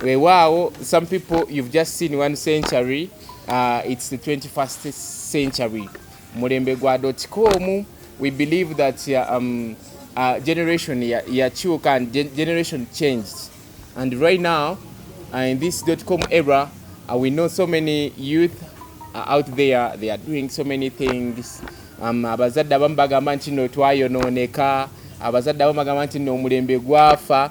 Wewaawo some people you've just seen one century uh, it's the 21st century mulembe gwa dotcom we believe that uh, um, uh, generation yakyuka ya and generation changed and right now uh, in this dotcom era uh, we know so many youth uh, out there they are doing so many things um, abazadde abamu bagamba nti no twayonooneka abazadde abamu bagamba nti no omulembe gwafa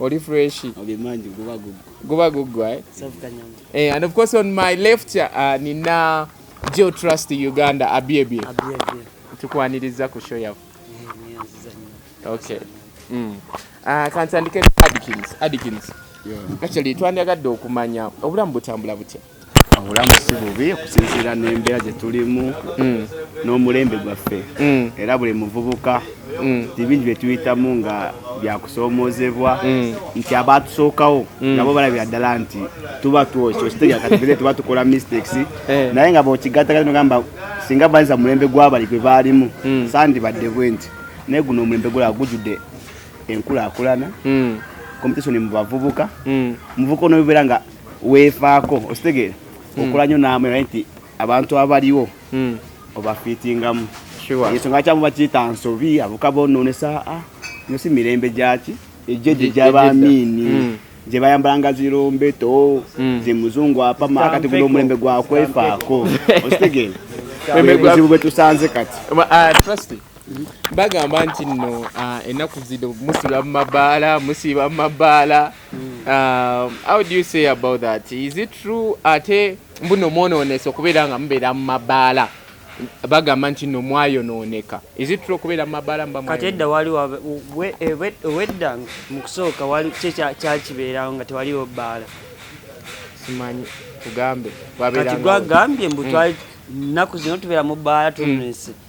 Oli fresh. Obimanji guba gugu. Guba gugu eh? Eh, and of course on my left uh, nina Joe Trust Uganda abiebie. Abiebie. Tukwaniriza ku show yafu. Eh, okay. Mm. Uh, kantandike Adkins. Adkins. Yeah. Actually twandyagadde okumanya obulamu butambula butya. obulamu si bubi okusinziira n'embeera gye tulimu mm. n'omulembe gwaffe mm. era buli muvubuka mm. tibingi bye tuyitamu nga byakusoomoozebwa nti abaatusookawo nabo balabira ddala nti tuba twokyo kitegeakatubire tuba tukola mistakes eh. naye nga bokigatagati nogamba singa banyiza mulembe gwabali gwe baalimu sandi badde bwe nti naye guno omulembe gulaba gujjudde enkulaakulana competition mu bavubuka muvubuka onobeera nga weefaako okitegeera hmm. okola nyo naamwe naye nti abantu abaliwo hmm. obafiitingamu ensonga kyamu bakiyita nsobi avuka bonoonesa ah, no si mirembe gyaki ejeje gyabamiini hmm. gye bayambalanga zirombeto gye muzungu apama kati guno omulembe gwakwefaako okitegeera ebizibu bwe tusanze kati ah, bagamba nti nno ah, ennaku zino musiba mu mabaala musiba mu mabaala Hmm. Um, how do you say about that? Is it true ate mbuno mwonoonese okubeera nga mubeera mu mabaala bagamba nti no mwayonooneka is it true okubeera mu mabaala mba kati edda wali wedda mu kusooka wali kyakibeerawo nga tewaliwo bbaala simanyi tugambe kati gwagambye mbu hmm. nnaku zino tubeera mu bbaala tunonese mm.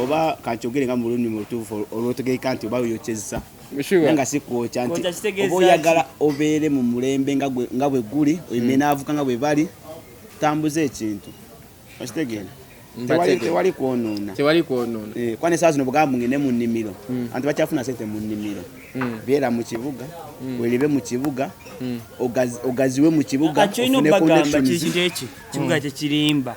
oba kankyogere nga mu lulimi olutuufu olwotegeeka nti oba yokyezza naye nga sikwokya nti oba oyagala obeere mu mulembe nga bwe guli oimenaavuka nga bwe bali tambuza ekintu okitegeera tewali kwonoona tewali kwonoona eh, kuba nesaa zino bugamba ngende mu nnimiro hmm. anti bakyafuna sente mu nnimiro hmm. beera mu kibuga hmm. weribe mu kibuga ogaziwe mu kibuga kibuga kyekirimba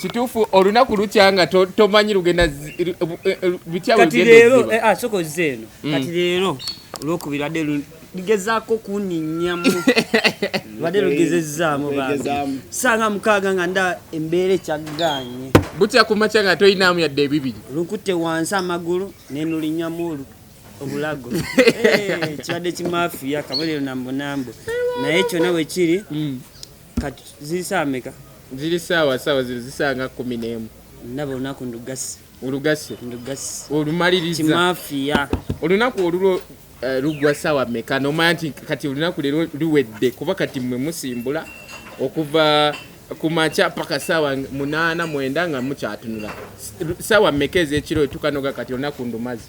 kituufu olunaku lukya nga tomanyi lugenda eh, eh, bityakati leero eh, ah, soko zze eno mm. kati leero olwokubiri adde ligezaako kuninyamu badde lugezezzaamu sanga mukaaga nga nda embeera ekyaggaanye butya ku makya nga toyinaamu yadde ebibiri lukutte wansi amagulu nenulinyamu olu obulago kibadde kimafiya kabonero nambunambu naye kyona wekiri mm. kati ziri saawa meka ziri saawa saawa zino zisanga kumi n'emu ndaba olunaku ndugasi olugasi ndugasi olumaliriza kimafiya olunaku olulo eh, lugwa saawa meka nomanya nti kati olunaku leero luwedde kuba kati mwe musimbula okuva ku makya paka saawa munaana mwenda nga mukyatunula saawa meka ez'ekiro etukanoga kati olunaku ndumazi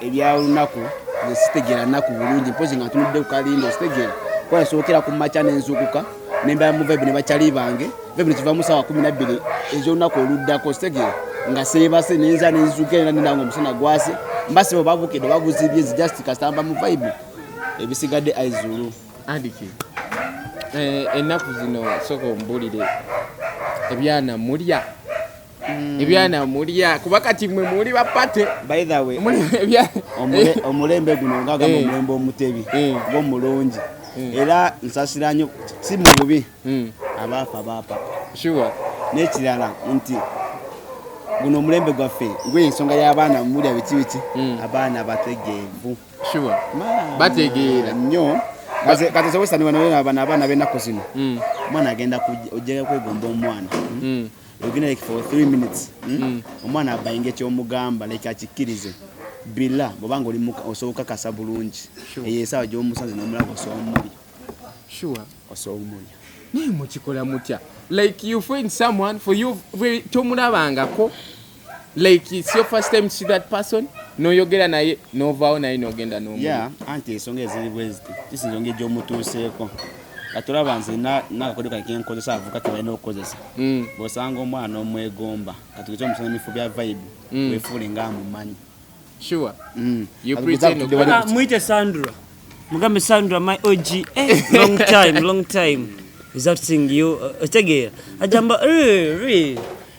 ebya lunaku nze sitegera naku bulungi mpozi nga ntunudde ku kalindo sitegera kuba nasookera ku makya nenzukuka nembala mu vibe ne bakyali bange vibe ne kiva mu saawa kumi nabbiri ekyolunaku oluddako sitegera nga seebase nenza nenzuka era nendanga omusana gwase mbasiba babukedde babuzibye nze just kasitamba mu vibe ebisigadde aizulu andiki eh, ennaku zino soka ombulire ebyana mulya Mm. ebyana mulya kuba kati mwe muli bapate omulembe guno ngagamba eh. omulembe omutebi eh. ngomulungi eh. era nsasira nyo si mu bubi mm. abaafa baapa n'ekirala nti guno omulembe gwaffe gwe ensonga y'abaana mulya biki biki mm. abaana bategeevu bategeera nnyo katisobosaniwanaabana abaana b'enaku zino omwana agenda ojjaga kwegomba omwana hmm? ogina like for 3 minutes hmm? mm. omwana abayinga ekyomugamba like akikkirize bila bwobanga oli osobola okakasa bulungi eyo esaawa gyomusanze nomulaba osobola omulya sure osobola omulya naye mukikola mutya like you find someone for you tomulabangako like it's your first time to see that person noyogera naye novaawo naye nogenda nomu yeah, anti ensonga eziri bweziti kisinza ongeri gyomutuuseeko kati olaba nze nakakodo kake nkozesa avuka kebalina okukozesa mm. bwosanga omwana omwegomba kati kekyo omusana emifu bya vibe mm. wefuule nga amumanyi sure mm. you pretend ah, mwite sandra mugambe sandra my og eh, long time long time is that thing you uh, otegeera ajamba eh,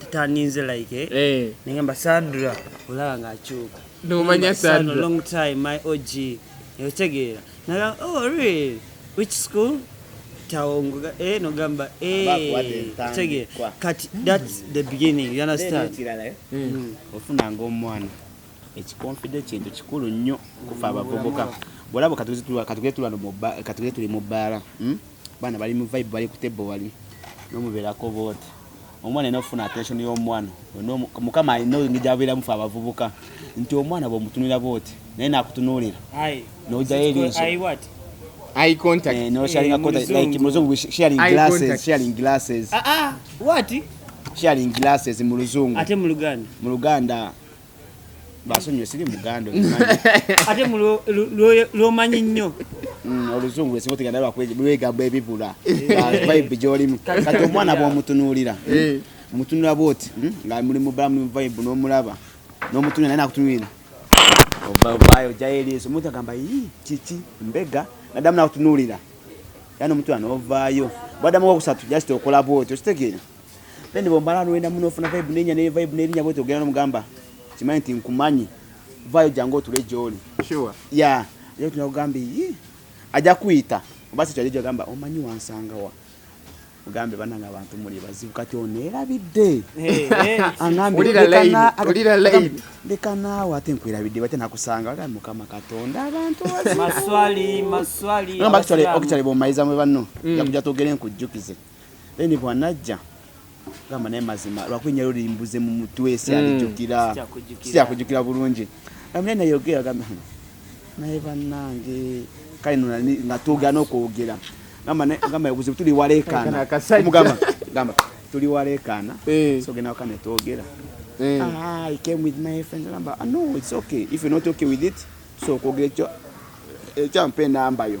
tutandinze like eh? eh. nengamba sadra olaba nga akyuka nomanya sadra long time my og otegeera naga oh really which school tawongoga eh nogamba eh otegeera kati that's the beginning you understand eh? mm. mm. ofunanga omwana ekikonfide kintu kikulu nnyo kufa abavubuka bwolaba katugeze tuli mu bbaala hmm? Bana bali mu vibe bali kutebbo wali nomuberako bote omwana ina ofuna attention y'omwana mukama alina ngijabeeramu fe abavubuka nti omwana bwomutunira bote naye nakutunuulira nojayo ebinso eye contact eh, no sharing eh, contact like muzungu sharing glasses sharing glasses ah ah what sharing glasses mu luzungu ate mu luganda mu luganda basonyiwe siri muganda ate lwomanyi nnyo mm, oluzungu esinga otegana lwegamba ebibula vibe gyolimu kati omwana bwomutunuulira eh. mutunula bwoti hmm, nga muli mubalamu mu vibe n'omulaba n'omutunula naye nakutunulira ovaayo ojjayo eriiso omuntu agamba yi kiki mbega nadamu nakutunulira yani omutunula n'ovaayo bwadamu wokusatu just okola bwoti okitegeera Then bombala nuenda muno funa vibe nenya ne vibe ne linya bweto gana mugamba. Kimanyi nti nkumanyi. Vayo jango tule joli. Sure. Yeah. Leo tunakugamba yi. Aja kuita. Basi chaje gamba omanyi wansanga wa. Ugambe bana nga bantu muli bazibu kati onera bidde. Hey, hey. Angambe ulira lane. Ulira lane. Ndeka nawe ate nkwira bidde bate nakusanga aga mukama katonda abantu wazi. Maswali, maswali. Ngamba actually, actually bomaiza mwe banno. Mm. Yakuja togere nkujukize. Mm. then bwanajja gamba naye mazima lwakunya luli mbuze mu mutwe si alijukira si akujukira bulungi amene naye ogera gamba naye banange kale nuna nga tugana okwogera gamba naye gamba yabuze tuli walekana mugamba gamba tuli walekana eh. so gena kana togera eh. ah i came with my friend gamba ah, no it's okay if you're not okay with it so kogera ekyo ekyo mpe namba yo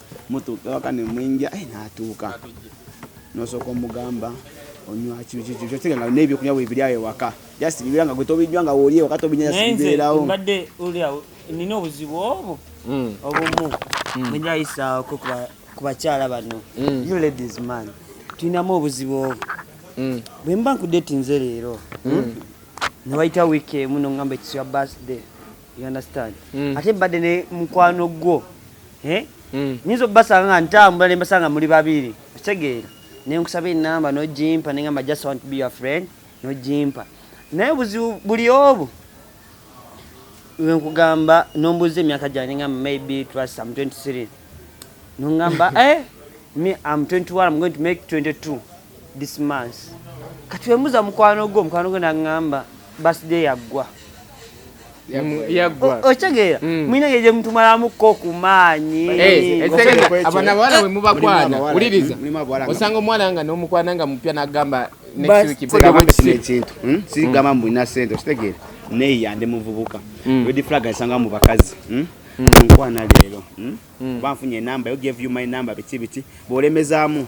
mutuuka ewaka ne mwinja eh, n'atuuka n'osooka omugamba onywa kyotegera nga n'ebyokunywa bwe biri awo ewaka just bibeera nga gwe tobijjwa nga wooli ewaka tobinyanya sibibeerawo mbadde oli awo nina obuzibu obwo hmm. obumu hmm. bwe njayisaawoko ku bakyala bano hmm. you ladies man tulinamu obuzibu obwo bwe mba nkudetinze leero ne wayita wiiki emu nongamba ekiswa birthday you understand mm. ate mbadde ne mukwano gwo eh? mm. nyinza obasanga nga ntambula nembasanga muli babiri okitegeera nenkusaba enamba nojimpa nengamba just want to be your friend nojimpa naye obuzibu buli obu wenkugamba nombuuza emyaka gyange nengamba maybe trust am 23 nongamba eh, me am 21 am going to make 22 this month kati wembuza mukwano gwo mukwano gwo nangamba birthday yaggwa yaggwa okitegeera mulina ngeri gyemutumalamuko ku maanyi abana bawala bwe mubakwana wuliriza osanga omwana nga n'omukwana nga mupya n'agamba ekintu sigamba mbu nina sente okitegeera naye yande muvubuka redi flag asanga mu bakazi nkwana leero banfunye enamba yo gave you my number biki biki bw'olemezaamu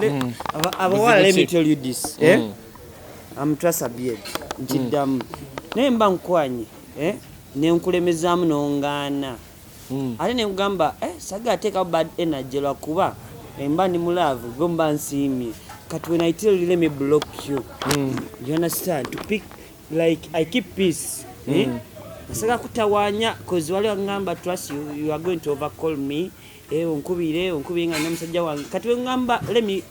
Let, mm. abawala let me tell you this eh? mm. eh? am trust abed nkiddamu mm. naye mba nkwanye eh? nenkulemezaamu nongaana mm. ate nenkugamba eh, saga ateekawo bad energy lwakuba emba ndi mulaavu gwe mba nsiimye But when I tell you, let me block you. Mm. You understand? To pick, like, I keep peace. Mm. Eh? Nasaka kutawanya, because wale wangamba trust you, you are going to overcall me. eh onkubire onkubire nga nyo musajja wange kati we ngamba let me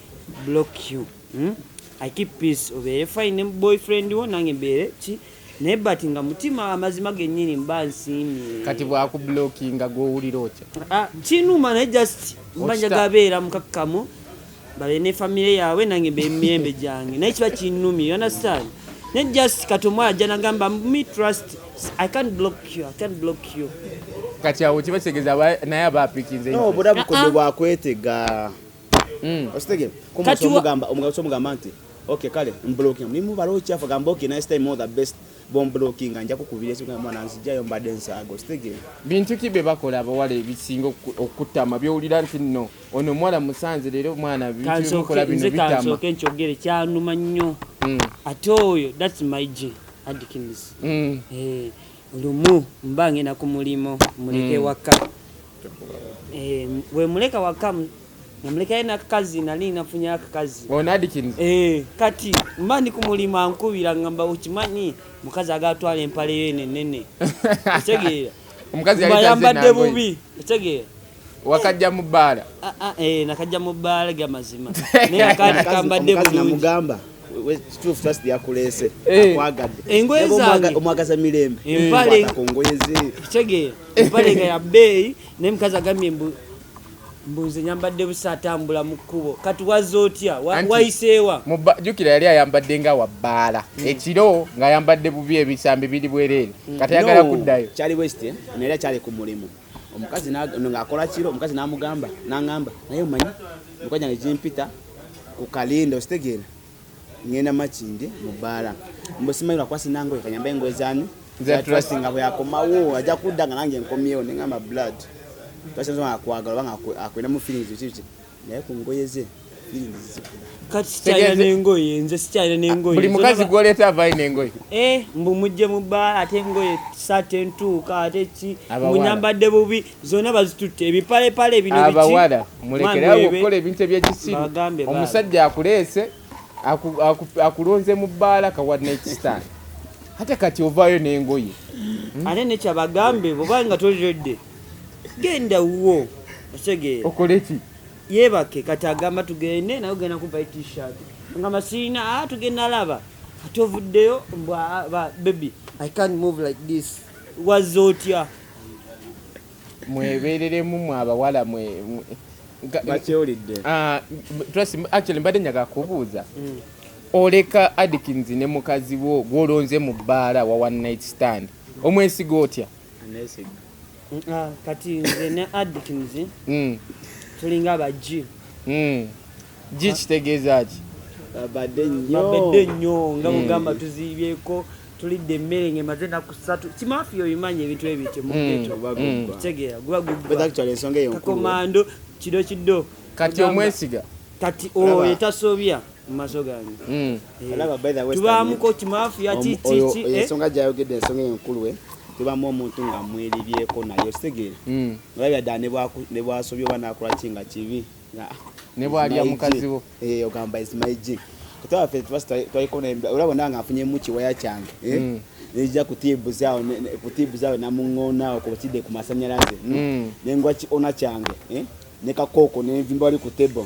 block you hmm? i keep peace obeere fine boyfriend wo nange mbeere ki naye but nga mutima amazima genyini mba nsiimye kati bwakublockinga gwowulira otya ah, kinuma naye just mba njagabeera mukakkamu babe ne famire yaabwe nange mbe mirembe gyange naye kiba kinnumye you understand ne just kati omu ajja nagamba me trust i can't block you i can't block you kati awo kiba kitegeeza naye aba apikinze no obuda bukodwe ah, ah. bwakwetega hmm. okitegere kati omugamba omugabo omugamba nti okay kale mbloki ni mubalo okyafa gamba okay nice time all the best bomb blocking anja kukubira ekiga mwana nzijayo mbadde nsaago sitege bintu ki bye bakola abawala ebisinga okukutama byowulira nti nno ono omuwala musanze leero omwana bikola bino bitamakansoke nkyogere kyanuma nnyo hmm. ate oyo thats my g adkins hmm. eh, lumu mba ngenda ku mulimu muleke hmm. waka eh, wemuleka waka namulekayo nakakazi nali nafunye akakazi oh, eh, kati mba ndi ku mulimu ankubira ngamba okimanyi mukazi agatwala empaleyo enenene etegeera omukazi yayambadde bubi etegeera wakajja mu bbaala ah, ah, eh, nakajja mu bbaala ga mazima naye akaati kambadde bulunginamugamba kituufu just yakuleese eh. akwagadde engoye zange omwagaza mirembe empale ku ngoye ze kitegeera empale nga ya bbeeyi naye mukazi agambye mbu mbuze nyambadde busa atambula mu kkubo kati waza otya wayiseewa jukira yali ayambadde nga wabbaala hmm. ekiro ng'ayambadde bubi ebisambi biri bwereere hmm. kati ayagala kuddayo kyali west eh? naye era kyali ku mulimu omukazi ng'akola kiro omukazi n'amugamba n'angamba naye omanyi emikono gyange gimpita ku kalindo okitegeera ngenda makindi mu bbaala mbu simanyi lwakuba sinangoye kanyamba engoye zani nga bweyakomawo ajja kudda nga nange nkomyewo nengamba blood twasinza nga akwagala oba nga akwinamu feelings biki biki naye ku ngoye ze firingi zizikula kati sikyalina nengoye nze sikyalina nengoye buli mukazi gwoleeta avaayo nengoye eh, mbu mujje mu bbaala ate engoye saati entuuka ate ki munyambadde bubi zonna bazitutte ebipalepale bino abawala mulekerawo okukola ebintu ebyekisiru omusajja akuleese akulonze mu bbaala kawa nekisitaani ate kati ovaayo nengoye hmm? ate nekyabagambe bwobanga tolirode genda wuwo otegeera okoleki yebake kati agamba tugende naye ogenda kuvayo t-shirt nga masiina a ah, tugenda laba kati ovuddeyo mbwa ah, baby i can't move like this wazze otya mwebereremu mwe abawala mwe bakyolidde ah, trust actually mbadde njaga kubuuza mm. oleka adikins ne mukazi wo gwolonze mu bbaala wa one night stand omwesiga otya Ah, kati nze ne addkins hmm. tulinga bajji hmm. ji ah. kitegeeza ki babadde nnyo nga mugamba hmm. tuziibyeko tulidde emmere ngemaze naku satu kimafi obimanyi ebintu ebityo mukitegeera gubagubakomando kido kido kati omwesiga kati oyo tasobya mu maso gange tubaamuko kimafiya kiki ensonga gyayogedde ensonga enkulu eh? tubamu omuntu nga mweribyeko naye ositegeera hmm. olabira ddala ne bwasobya oba nakolaki nga kibi ne bwalya mukazi wo eh, ogamba is my g kutwafe twaliko olaba nanga afunyemu kiwaya kyange eh? hmm. nejja kutiibuzaawo kutiibuzaawo namuŋoonaawo kubakidde ku masanyalaze hmm. nengwa kiona kyange nekakooko nenvimba wali ku table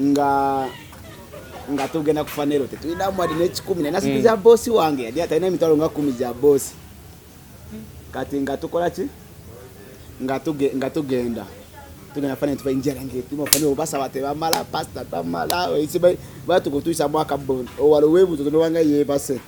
nga nga tugenda kufa nero tetulina mwadi nekikumi naye nasiku za mm. bosi wange yali atalina emitwalo nga kumi gya bosi kati nga tukola ki nga tugenda tugenda fana tuba enjala ngetuma fana obasaba tebamala pasita tamala batukutuisa mwaka bon owala owebuzo tonowanga yebase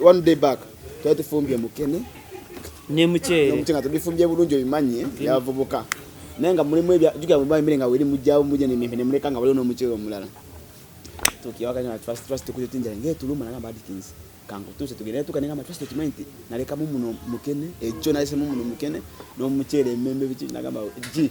one day back twali tufumbye mukene ne muceere muceere nga tubifumbye bulungi obimanye yavubuka naye nga mulimu ebyajuka mu bamire nga weri mujjawo mujja ne mimpe ne muleka nga waliwo n'omuceere omulala tukiwaka nga trust trust tukuze tinjala ngee tuluma nagamba adikins kankutuuse tugende tuka nengamba trust okimanyi nti nalekamu muno mukene ekyo nalesemu muno mukene n'omuceere emembe biki nagamba gi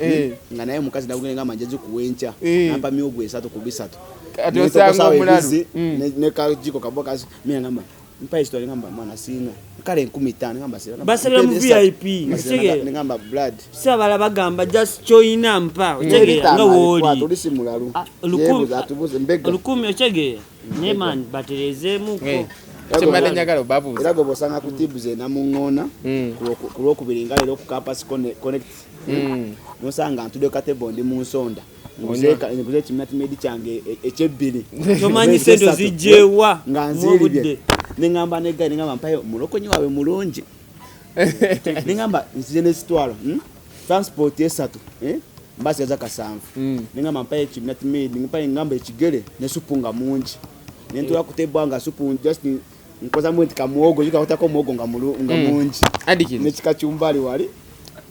eh. hmm? nga naye omukazi nagugenda ngamba nja gikuwa enkya eh. nampa myogwa esatu ku bisatu ati osanga omulalu hmm. ne kajiko kabo kasi mina ngamba mpa esitwale ngamba mwana sina kale enkumi ttaano ngamba sira basabira mu vip ne ngamba blood sabala bagamba just choina mpa otegeera nga wooli ah, olukumi otegeera ne man batereezeemuko eh. kyembadde njagala obabuuza era gwe bwosanga ku tibu ze namuŋŋoona hmm. ku lwokubiri nga leero ku campus connect hmm. hmm. nosanga ntude katebo ndi mu nsonda nguze ekiminatimedi kyange e-, ekyebbiri tomanyi sente zijjewa nga nziiribye neŋamba negai neŋamba mpayo mulokonyi waabwe mulungi neŋamba nzize nesitwalo hmm? transport esatu eh? mbasi yaza kasanvu mm. nengamba mpayo ekibi nati made mpayo engamba ekigere ne supu nga mungi nentola yeah. kutebwa nga supu just nkoza mu nti kamuwogo yika kutako muwogo nga mulu nga mm. mungi adiki ne kikachumbali wali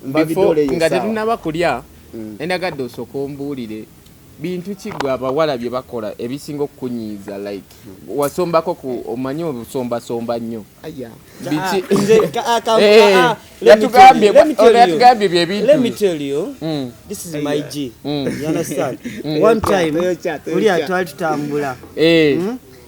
mbabidole yesa nga tetunaba kulya mm. endagadde osokombuulire Bintu ki gwe abawala bye bakola ebisinga okukunyiiza like wasombako ku omanyi obusombasomba nnyo yatugambye bye bintuoli atwali tutambula eh. hmm?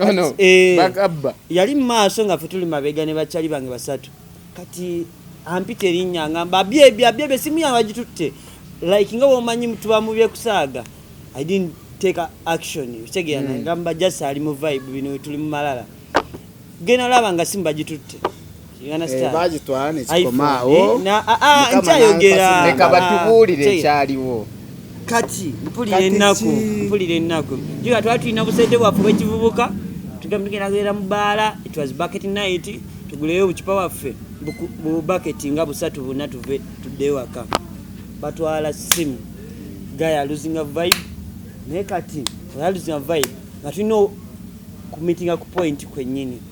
oh, no. eh, bakabba yali mu maaso nga ffe tuli mabega ne bakyali bange basatu kati ampita erinnya ngamba abyebi abyebi esimu yange bagitutte like nga womanyi tuba mu byekusaaga i didn't take action kitegeera mm. ngamba just ali mu vibe bino tuli mu malala gena olaba nga simu bagitutte Eh, bagitwala nekikomaawo eh, ah, ah, nkyayogera leka batubuulire ah, ekyaliwo kati mpulira ennaku mpulira ennaku jika twali tulina busente bwaffe bwekivubuka tugamba tugenda kugenda mu baala it was bucket night tuguleyo obucupa bwaffe bubaketi nga busatu buna tuve tuddeyo waka batwala simu gaya luzinga vibe naye kati oyaluzinga vibe nga tulina kumitinga ku point kwennyini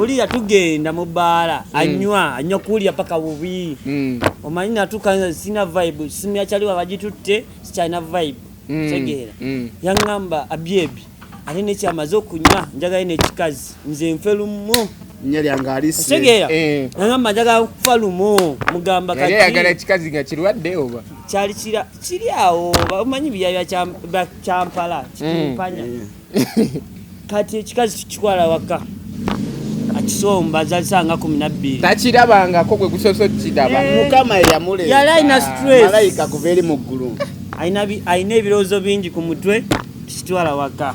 oliya tugenda mu bbaala hmm. anywa anywa kuwulira paka bubi hmm. omanyi natuka sina vibe simu yakyaliwa bagitutte sikyalina vibe hmm. tegeera yaŋamba abyebi ate nekyamaze okunywa njagala nekikazi nze nfe lumu tegeera eh. naŋamba njagala kufa lumu mugamba kyali kira kiri awo omanyi biyaya kyampala kitimpanya mm. kati ekikazi kikikwala waka akisomba azalisanga kumi nabbiri takirabangako gwe gusoso kiraba eh. mukama eyamuleeta yali alina stress malayika kuva eri mu ggulu alina ebirowoozo bingi ku mutwe kitwala waka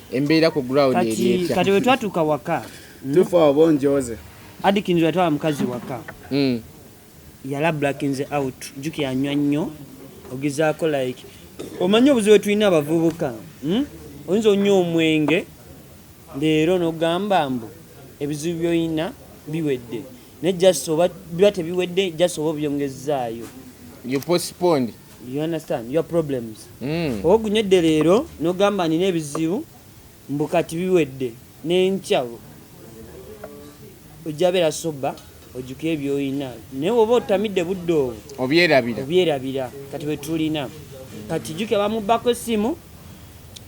embeera ku ground eri etya kati wetwatuuka waka hmm? tufa obo njoze adikinzi wetwala mukazi waka hmm. yala blackinze out juki anywa nnyo ogezaako like omanyi obuzibu wetulina abavubuka hmm? oyinza onywa omwenge leero nogamba mbu ebizibu byoyina biwedde naye just oba biba tebiwedde just oba obyongezaayo you postponed you understand your problems mm. ogunyedde leero nogamba nina ebizibu mbu kati biwedde nenkya ojja beera soba ojuka ebyoyina naye oba otamidde budde obwo obyerabira obyerabira kati bwetulina kati juke bamubbako essimu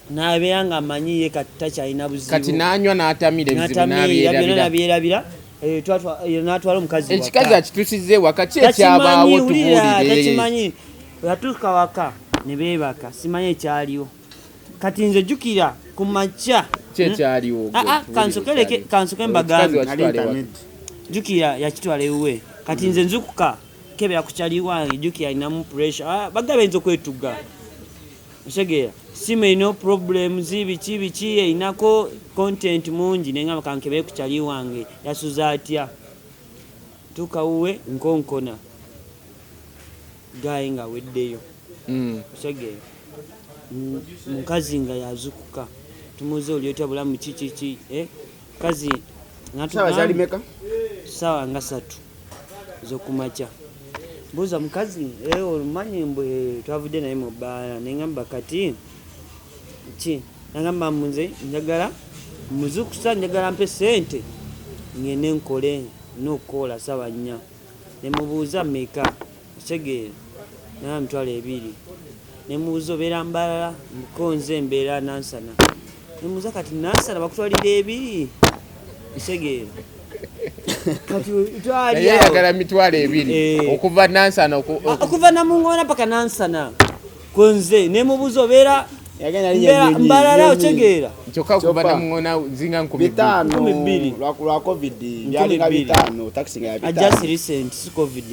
nabeera nga amanyiye kati takyalina buzibu kati nanywa natamira ebizibu nabyerabira Eh, eh, natwala omukazi ekikazi akitusiza ewaka ki ekyabaawo tubuuliretakimanyi yatuuka waka ne beebaka simanyi ekyaliwo kati nze jjukira ku makya kyekyaliwo hmm? ah, ah, kansoke mbagambe jjukira yakitwala ewuwe kati nze nzukuka kebera ku kyaliwange jjukira alinamu pressure ah, bagabe nza okwetuga otegeera simu erina problems biki biki erinako content mungi naye ngamba kankebere ku kyali wange yasuza atya tuuka wuwe nkonkona gaye nga weddeyo hmm. otegeera mukazi nga yazukuka tumuze oli otya bulamu kikiki eh? kazi sawa zali meka sawa nga satu zokumacha buza mukazi eh, olumanyi mbu eh, twavudde naye mu bbaala nengamba kati ki nagamba munze njagala muzukusa njagala mpe sente ngende nkole nokukola sawa nnya nemubuuza meka okitegeera naba mitwalo ebiri nemubuuza obeera mbalala mukonze mbeera nansana nemubuuza kati nansana bakutwalira ebiri okitegeera yayagala mitwalo ebiri eh. okuva nansana ah, okuva namungona paka nansana kunze nemubuza obeera mbalala otegeera kyokka kuva namuŋona zinga nkumi bbiri lwa covid byalinga bitaano takisi nga yabitaano just recent si covid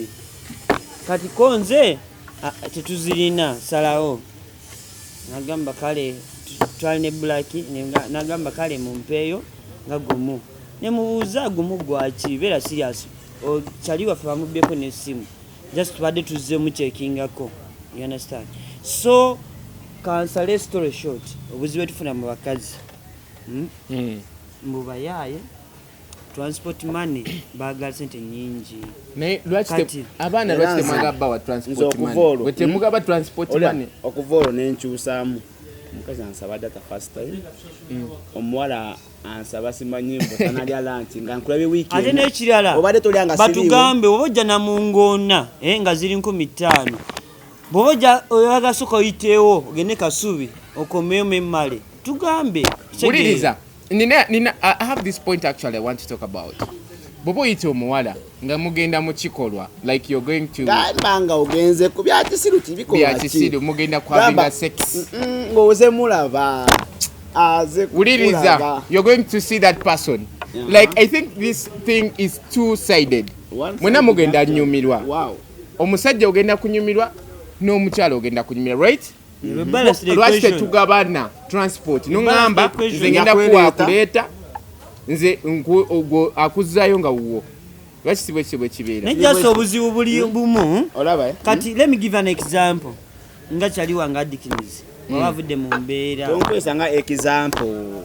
kati ko nze tetuzirina salawo nagamba kale twali ne bulaki nagamba kale mumpeeyo nga gumu nemubuuza gumu gwaki beera siriasi kyali waffe bamubyeko n'essimu just tubadde tuzze mukyekingako you understand so kansale story short obuzibu etufuna mu bakazi hmm? Hmm. mbubayaaye transport money bagala sente nyingi naye lwaki abaana lwaki temwaga bawa transport money bwe temugaba hmm? transport money okuva olwo nenkyusaamu omukazi ansaba data first time omuwala ansaba simanyi mbu tanalya lanki nga nkulabye wiiki ate n'ekirala obadde tolya nga batugambe oba ojja na mu ngoona eh, nga ziri nkumi ttaano bwoba ojja oyagasoka oyiteewo ogende kasubi okomeyo memmale tugambe wuliriza nina nina i have this point actually i want to talk about bwoba oyita omuwala nga mugenda mu kikolwa like you're going to gamba nga ogenze ku bya kisiru kibiko bya kisiru mugenda kwa binga sex ngo oze mulaba aze kuliriza you're going to see that person yeah. like i think this thing is two sided mwena mugenda nyumirwa wow omusajja ogenda kunyumirwa n'omukyala ogenda kunyumirwa right Mm-hmm. lwaki tetugabana transport noŋamba nze ngenda kuwakuleeta nze akuzayo nga wuwo lwaki sibwe kibwe kibeera naye just obuzibu buli hmm? bumu olaba eh? kati hmm? let me give an example nga kyali wange adikinizi hmm. waba avudde mu mbeera okwesa nga example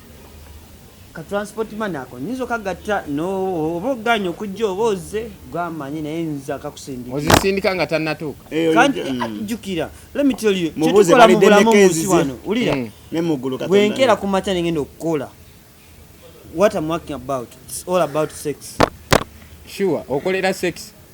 ka transport man ako nyinza okagatta nooba ogaanye okujja oba ozze gwamanyi naye nza kakusindika ozisindika nga tannatuuka eh, kandi eh, mm. ah, jjukira lemitolyotukola mu bulamu munsi wano wulira mm. bwenkeera ku makya nengenda okukola what am working about It's all about sex sure okolera sex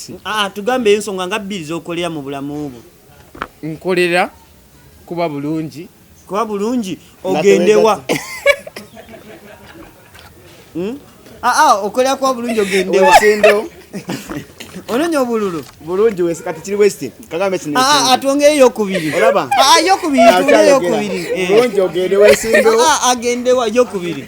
si ah, ah, tugambe ensonga nga bbiri zokolera mu bulamu bwo nkolera kuba bulungi kuba bulungi ogendewa hmm? aa ah, okolera kuba bulungi ogendewa ononya obululu bulungi wese kati kiri westi kagambe kino ah, ah, atwongere yokubiri olaba ah, yokubiri tugere yokubiri eh. bulungi ogende wesindewo agendewa yokubiri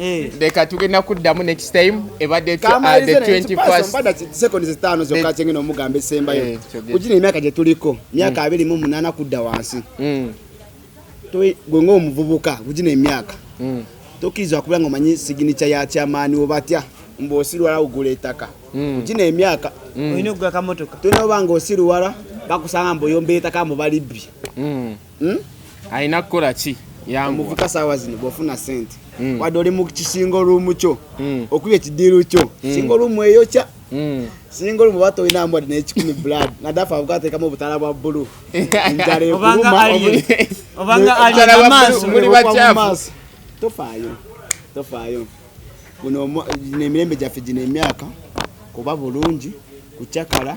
Eh. leka tugenda kuddamu next time ebadde uh, omugamba esembayo eh, kugina emyaka gye tuliko myaka mm. abiri mu munaana kudda wansi mm. gwe ngaomuvubuka kugina emyaka mm. tokkirizibwa kuba nga omanyi siginica ya kyamaani obatya mbu osiruwala ogula ettaka kugina emyaka olina okugula kamotoka tulina oba nga osiruwala bakusanga mbu oyomba ettaka mbu balibbi hmm? alina kukola ki yamuvuka saawa zino bwofuna sente hmm. wadde oli mu kisinga oluumu kyo hmm. okuba ekidiiru kyo singa oluumu eyokya singa olumu oba tolina mbwadi nekikumi blood nadafa avuga atekamu obutala bwa bbulu njala ekuluma tofaayo tofaayo guno emirembe gyaffe gino emyaka kuba bulungi kucakala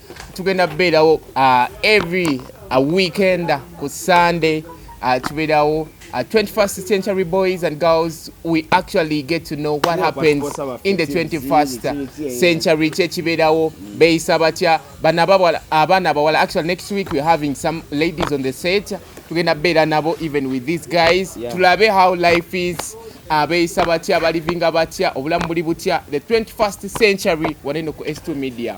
tugenda beerawo uh, every a uh, weekend ku sunday uh, tubeerawo uh, 21st century boys and girls we actually get to know what happens in the 21st century kyekibeerawo beeyisa batya abaana abawala actually next week we're having some ladies on the set tugenda beera nabo even with these guys yeah. tulabe how life is abeeyisa batya balivinga batya obulamu buli butya the 21st century waneno ku s2 media